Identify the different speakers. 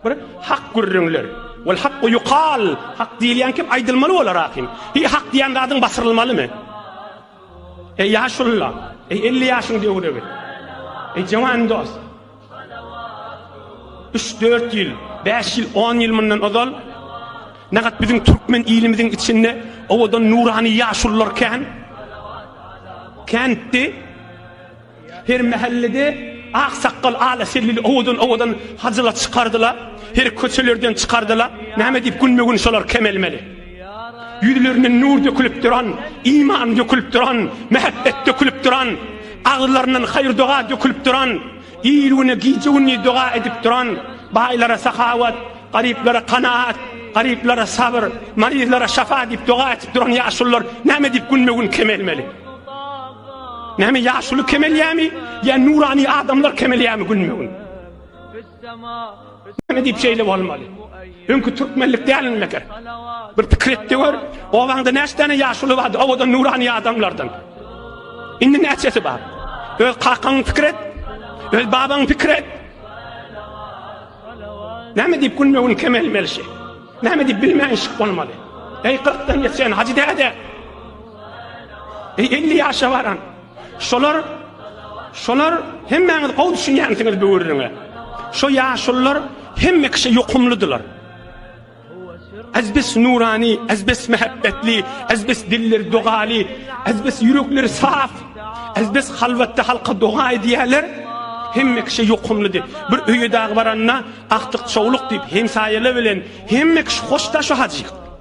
Speaker 1: Bir hak gürrüňler. Wal hakku yukal. Hak diýilýän kim aýdylmaly bolar ahim. Hi hak diýen zadyň basyrylmalymy? Eý ýaşulla, eý 50 ýaşyň döwregi. Eý jawan dost. 3-4 ýyl, 5 ýyl, 10 ýyl mundan ozal Nagat biziň türkmen ilimiziň içinde owadan nurany ýaşullar kän. Känti Her mähellede aksakgal ala sellili owadan owadan hajylar çykardyla, her köçelerden çykardyla, näme diýip günbe gün şolar kemelmeli. Ýüzlerinden nur dökülip duran, iman dökülip duran, mähebbet dökülip duran, agzlaryndan haýyr doga dökülip duran, il güne gije gündiz doga edip duran, baýlara sahawat, garyplara kanaat, garyplara sabyr, maryzlara şafa diýip doga etip duran ýaşulylar näme diýip günbe gün kemelmeli. Näme ýaşuly kemelýämi? Ýa nurany adamlar kemelýämi günme-gün? Näme diýip şeýle bolmaly? Öňki türkmenlik dälmi meger? Bir pikir etdi gör, owaňda näçe däne ýaşuly bardy, owadan nurany adamlardan. Indi näçesi bar? Öz kakaň pikir et, öz babaň pikir et. Näme diýip günme-gün kemelmeli şey? Näme diýip bilmän şyk bolmaly? Eý, 40-dan geçen hajy däde! Eý 50 ýaşa baran. Şolar şolar hemmäňiz gowy düşünýänsiňiz bu gürrüňe. Şo ýaşullar hemme kişi ýokumlydylar. Azbis nurani, azbis mehabbetli, azbis dilleri dogaly, azbis ýürekleri saf, azbis halwatda halka doga edýärler. Hemme kişi ýokumlydy. Bir öýe dagy baranda, akdyk çowluk diýip, hemsaýalar bilen hemme kişi hoşdaş hajy.